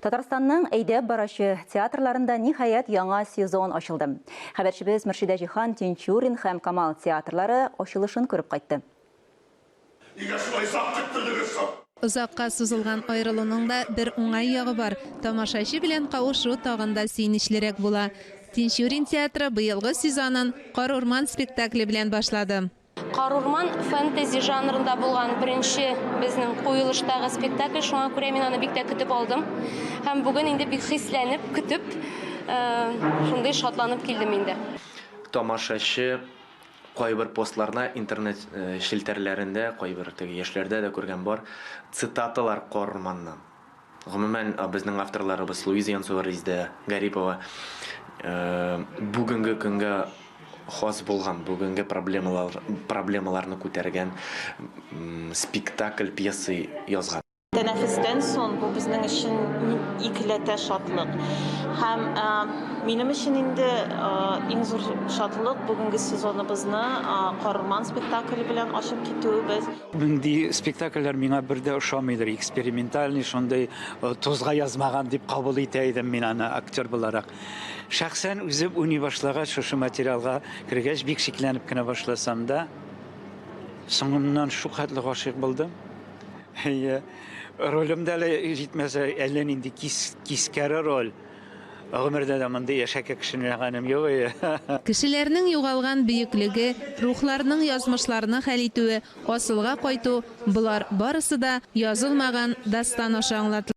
Татарстанның әйдәп барачы театрларында, ниһаять, яңа сезон ачылды. Хәбәрчебез Мөршидә Җиһан Тинчурин һәм Камал театрлары ачылышын күреп кайтты. Нигә шулай озак көттердегез соң? Озакка сузылган аерылуның да бер уңай ягы бар, тамашачы белән кавышу тагын да сөенечлерәк була. Тинчурин театры быелгы сезонын Кар-урман спектакле белән башлады. Карурман фэнтези жанрында булган беренче безнең куелыштагы спектакль, шуңа күрә мин аны бик тә көтеп алдым. Һәм бүген инде бик хисләнеп, көтеп, шундый шатланып килдем инде. Тамашачы кайбер постларда, интернет челтәрләрендә, кайбер теге яшьләрдә дә күргән бар, цитаталар Карурманнан. Гомумән, безнең авторларыбыз Луиза Янцова, Резидә Гарипова бүгенге көнгә хас булган, бүгенге проблемалар, проблемаларны күтәргән спектакль, пьеса язган. Тәнәфестән соң бу безнең өчен икеләтә шатлык. Һәм минем өчен инде иң зур шатлык бүгенге сезоныбызны Корман спектакле белән ачып китүебез. Мондый спектакльләр миңа бер дә ошамыйдыр, экспериментальный, шундый э, тузга язмаган дип кабул итә идем мин аны актер буларак. Шәхсән үзем уйный башлагач, шушы материалга кергәч, бик шикләнеп кенә башласам да, соңыннан шулкадәрле гашыйк булдым. Әйе, ролем дә әле җитмәсә, әллә нинди кис, кискәре роль. Гомердә дә мондый яшәкә кешене җәгәнем юк ие. Кешеләрнең югалган бөеклеге, рухларның язмышларны хәл итүе, асылга кайту, болар барысы да язылмаган дастан аша аңлатыла.